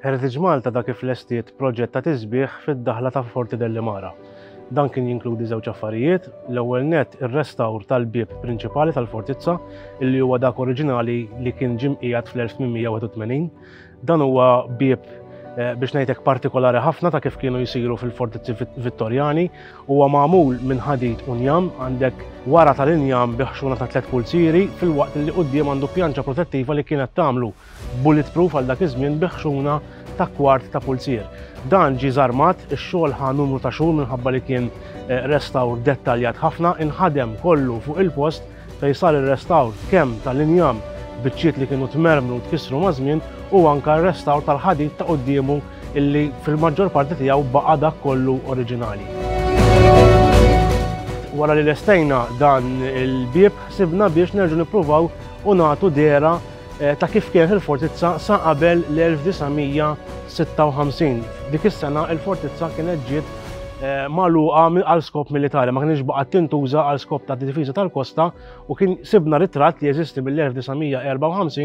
Heritage Malta dak kif lestiet proġett ta' tisbieħ fid-daħla ta' Forti Dellimara. Dan kien jinkludi żewġ affarijiet, l-ewwel net ir-restawr tal-bieb prinċipali tal-fortizza, illi huwa dak oriġinali li kien ġimqijat fl-1881, Dan huwa bieb eh, biex ngħidlek partikolari ħafna ta' kif kienu jisiru fil-fortizzi Vittorjani, huwa magħmul minn ħadid u njam għandek wara tal-injam biħxuna ta' tliet pulzieri fil-waqt li quddiem għandu pjanċa protettiva li kienet tagħmlu bulletproof għal dak iż-żmien biħxuna ta' kwart ta' pulzier. Dan ġi żarmat ix-xogħol ħa numru ta' xhur minħabba li kien eh, restawr dettaljat ħafna, inħadem kollu fuq il-post fejn sar ir-restawr kemm tal-injam, biċċiet li kienu tmermru u tkissru maż-żmien, u anke r-restawr tal-ħadid ta' quddiemu illi fil-maġġor parti tiegħu baqa' dak kollu oriġinali. Wara li lestejna dan il-bieb ħsibna biex nerġgħu nippruvaw u nagħtu dehra ta' kif kienet il-fortizza sa qabel l-1956. Dik is-sena il-fortizza kienet ġiet eh, magħluqa għal skop militari, ma kienx baqgħet tintuża għal skop ta' difiża tal-kosta u kien sibna ritratt li jeżisti mill-1954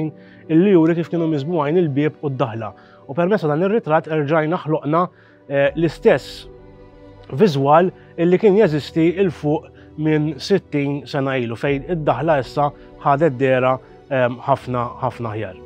illi juri kif kienu miżbuħajn il-bieb u d-daħla. U permessa dan ir-ritratt erġajna ħloqna Eh, l-istess viżwal illi kien jeżisti il fuq minn 60 sena ilu fejn id-daħla issa ħadet dera ehm, ħafna ħafna ħjar.